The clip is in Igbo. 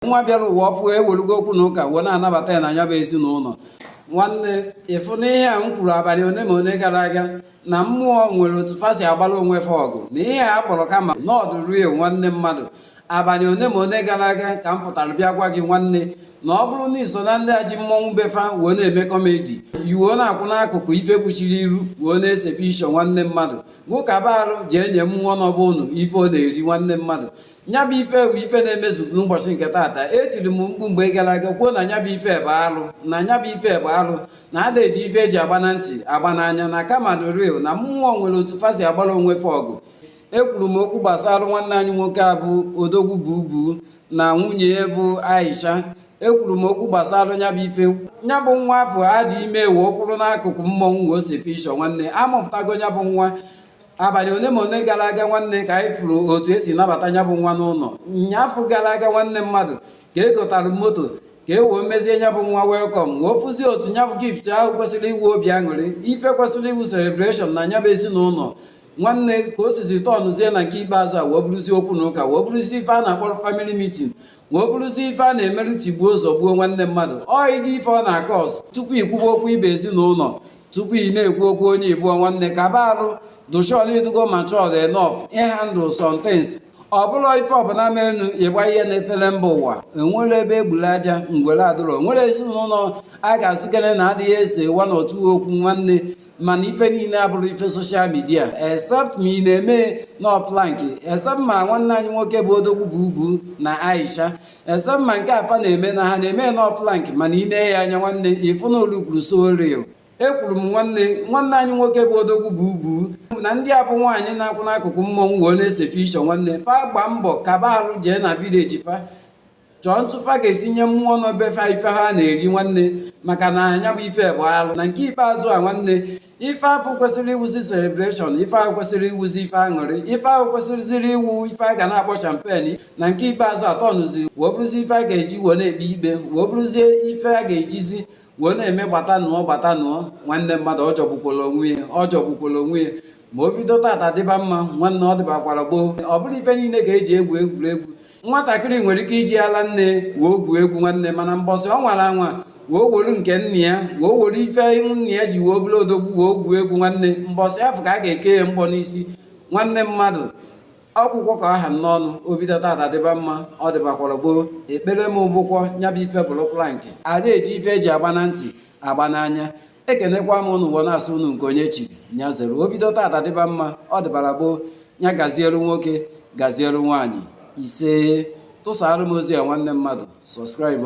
nwa bịara ụwa ọfụụ e welugo okwu na ụka wee na-anabata ya na nya bụ ezinụlọ nwanne ị fụ n'ihe a m kwuru abanị one ma one gara aga na mmụọ nwere otu fa si agbara onwe fa ọgụ na ihe a kpọrọ karma na ọ dị real nwanne mmadụ abanị one ma one gara aga ka m pụtara bịa gwa gị nwanne na ọ bụrụ na i so na ndị eji mmọnwụ be fa wee na-eme comedy i wee na-akwụ n'akụkụ ife kpuchiri iru wee na-ese picture nwanne mmadụ kaba arụ jee nye mmụọ nọ be unu ife ọ na-eri nwanne mmadụ nya bụ ife bụ ife na-emezu n'ụbọchị nke taata etiri m mkpu mgbe gara aga kwuo na nya bụ ife bụ alụ na nya bụ ife bụ alụ na ada eji ife eji agba na ntị agba n'anya na karma dị real na mmụọ nwere otu fa si agbara onwe fa ọgụ ekwuru m okwu gbasara nwanne anyị nwoke a bụ odogwu bubu na nwunye ya bụ aisha ekwuru m okwu gbasara nya bụ ife nya bụ nwa afụ a dị ime e wee kwụrụ n'akụkụ mmọnwụ wee see picture nwanne a mụpụtago nya bụ nwa abanị one ma one gara aga nwanne ka anyị fụrụ otu e si nabata nya bụ nwa n'ụnọ nyaafụ gara aga nwanne mmadụ ka e gotara moto ka e wee mezie nya bụ nwa welcome wee fụzie otu nya bụ gift ahụ kwesịrị ịwụ obi aṅụrị ife kwesịrị ịwụ celebration na nya bụ ezinụlọ nwanne ka o sizi tọnụzie na nke ikpeazụ a wee bụrụzie okwu na ụka wee bụrụzie ife a na-akpọrọ family meeting wee bụrụzi ife a na-emerụ tigbuo zọgbuo nwanne mmadụ ọ ịdị ife ọ na-acause tupu i kwuba okwu ibe ezinụlọ tupu ị na-ekwu okwu onye ịbụọ nwanne kaba arụ dụ sure na ị dụgo matured enough ịhandle some things ọ bụrọ ife ọbụla merenụ ịgba ihe n'efere mba ụwa enwere ebe e gburu aja ngwere adụrọ o nwere ezinụlọ a ga-asịkere na adịghị ese one or two okwu nwanne mana ife niile abụrọ ife social media except ma ị na-eme nnọọ prank except ma nwanne anyị nwoke bụ odogwu bubu na aisha except ma nke a fa na-eme na ha na-eme nnọọ prank mana ị nee ya anya nwanne ị fụ na ọ lookuru so real ekwuru m nwanne nwanne anyị nwoke bụ odogwu bubu na ndị a bụ nwaanyị na-akwụ n'akụkụ mmọnwụ wee na-ese picture nwanne fa gbaa mbọ kaba arụ jee na village fa chọọ otu fa ga-esi nye mmụọ nọ be fa ife ha na-eri nwanne maka na nya bụ ife bụ alụ na nke ikpeazụ a nwanne ife afụ kwesịrị ịwụzi celebration ife ahụ kwesịrị ịwụzi ife aṅụrị ife ahụ kwesịrịziri ịwụ ife a ga na-akpọ champagne na nke ikpeazụ a tọnụzi wee bụrụzi ife a ga-eji wee na-ekpe ikpe wee bụrụzie ife a ga-ejizi wee na-eme gbatanụ o gbatanụ o nwanne mmadụ ọ jọgbukwala onwe ya ọ jọgbukwala onwe ya ma o bido taata dịba mma nwanne ọ dịbakwara gboo ọ bụrọ ife niile ka eji egwu egwuregwu nwatakịrị nwere ike iji ala nne wee gwuo egwu nwanne mana mbọsị ọ nwara anwa wee wolu nke nna ya wee wolu ife nna ya ji wee bụrụ odogwu wee gwuo egwu nwanne mbọsị afụ ka a ga-eke ya mgbọ n'isi nwanne mmadụ akwụkwọ ka aha m n'ọnụ o bido taata dịba mma ọ dịbakwara gboo ekpere m bụkwa nya bụ ife bụrụ prank ada eji ife eji agba na ntị agba n'anya ekenekwa m ụnụ ụwa na-asụ ụnụ nke onye chiri nya zere o bido tata dịba mma ọ dịbara gboo nya gazielu nwoke gazielu nwaanyị ise tụsara m ozi a nwanne mmadụ subscribe